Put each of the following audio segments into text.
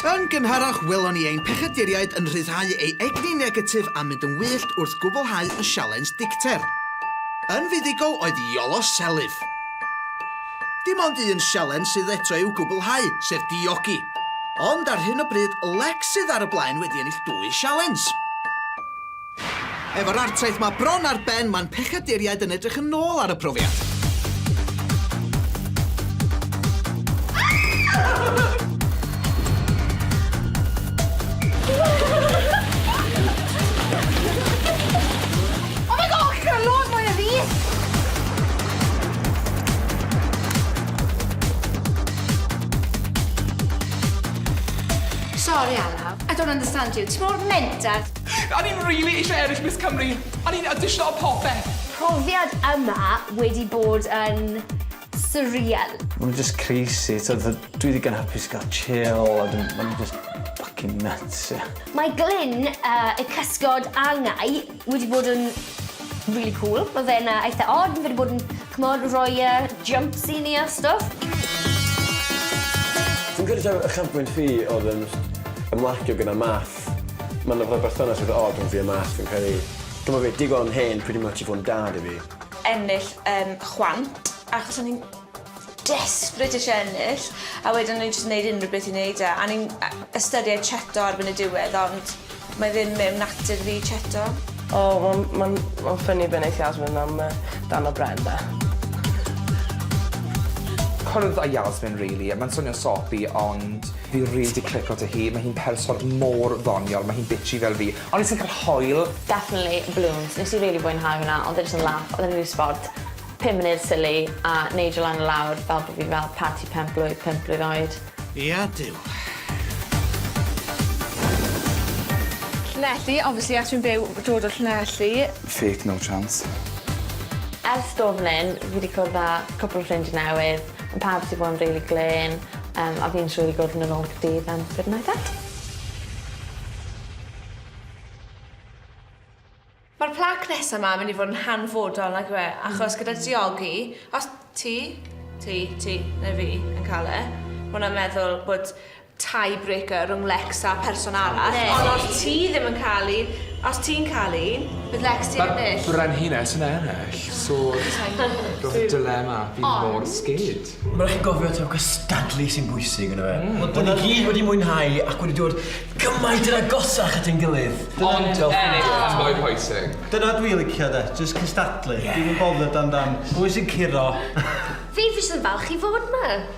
Yn gynharach, welon ni ein pechaduriaid yn rhyddhau ei egni negatif a mynd yn wyllt wrth gwblhau y sialens dicter. Yn fuddugol oedd Iolo Selyf. Dim ond un sialens sydd eto i'w gwblhau, sef diogi. Ond ar hyn o bryd, Lex sydd ar y blaen wedi ennill dwy sialens. Efo'r artaith 'ma bron ar ben, mae'n pechaduriaid yn edrych yn ôl ar y profiad. Sorry, Alaw. I don't understand you. Ti mor mental. O'n i'n rili eisiau ennill Miss Cymru. O'n i'n awdisio a popeth. Profiad yma wedi bod yn surreal. Ma' nhw jyst crazy t'od fel dwi ddigon hapus ga'l chill a wedyn ma' nhw jyst ffycin nyts ie. Mae Glyn yy y cysgod angau wedi bod yn rili cŵl. Ma' fe'n yy eitha od ma' fe 'di bod yn ch'mod roi yy jymps i ni a stwff. Fi'n credu taw ychafbwynt fi odd yn ymlacio gyda math Ma' 'na fel berthynas eitha od rhwng fi a Matt fi'n credu. T'mo' fi, digon hen pretty much i fod yn dad i fi. ennill yym chwant achos o'n i'n desperate isie ennill a wedyn o'n i'n jyst yn neud unryw beth i neud e a o'n i'n yy ystyried cheto erbyn y diwedd ond mae ddim mewn natur fi cheto. O wel ma'n ma'n ffyni be' neith Yasmin am yy dan y bren 'na. Cwrdd â Yasmin rili a ma'n swnio'n soppy ond Fi rili 'di clico 'da hi, mae hi'n person mor ddoniol, mae hi'n bitchy fel fi, ond fi jyst yn cael hoyl. Definitely balloons, nes i rili fwynhau hwnna, odd e jyst yn laff, odd e'n rili sbort, pum munud silly, a neidio lan a lawr fel bo' fi fel parti penblwydd pump blwydd oed. Ia Duw. Llanelli, obviously achos fi'n byw, dod o Llanelli. Fake, no chance. Ers do' fan 'yn, fi 'di cwrdd â cwpwl o ffrindie newydd. Mae pawb 'di bod yn rili glên yym a fi'n siŵr bod yn ôl Caerdydd am good night out. Mae'r plaque nesa 'ma yn mynd i fod yn hanfodol nag yw e? Achos gyda diogi, os ti, ti, ti neu fi yn cael e, ma' hwnna'n meddwl bod tie breaker rhwng Lex a person arall, ond os ti ddim yn cael un, os ti'n cael un, bydd Lex di ennill. Mae'r brenhines yn ennill, so roedd y dilemma fi mor sgid. Mae'n rhaid gofio taw cystadlu sy'n bwysig yn y fe. Mm. Ond i gyd wedi mwynhau ac wedi dod gymaint yn agosach at ein gilydd. Ond ennill yn mwy pwysig. Dyna dwi'n licio de, jyst cystadlu. Yeah. Dwi'n yn bothered amdan pwy sy'n curo. Fi fi sy'n falch i fod ma.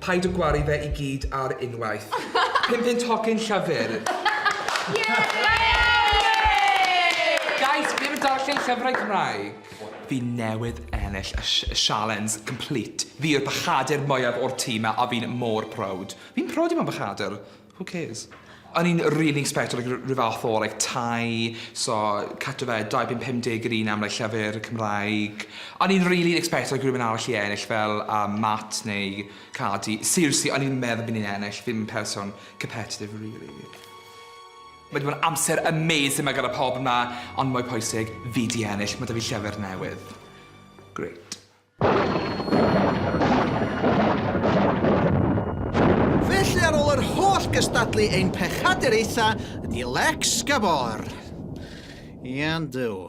Paid a gwaru fe i gyd ar unwaith. Pum punt hogyn Llafur. Guys, fi ddim yn darllen llyfrau Cymraeg. Fi newydd ennill y si- y sialens complete. Fi yw'r bachadur mwyaf o'r tîm 'ma a fi'n mor proud. Fi'n proud i fod yn bachadur. Who cares? O'n i'n rili ecsbectio like r- ryw fath o like tai so cut off e dau punt pum deg yr un am like llyfyr Cymraeg. O'n i'n rili ecsbectio like rywun arall i ennill fel yym Matt neu Cardi. Seriously o'n i ddim meddwl bo' ni'n ennill fi'm yn person competitive rili. Ma' 'di bod yn amser amazing 'ma gyda pawb 'ma ond mwy pwysig fi 'di ennill ma' 'da fi llyfyr newydd. Grêt. Felly ar ôl yr holl gystadlu ein pechaduraetha ydi Lex Gabor. Iawn Duw.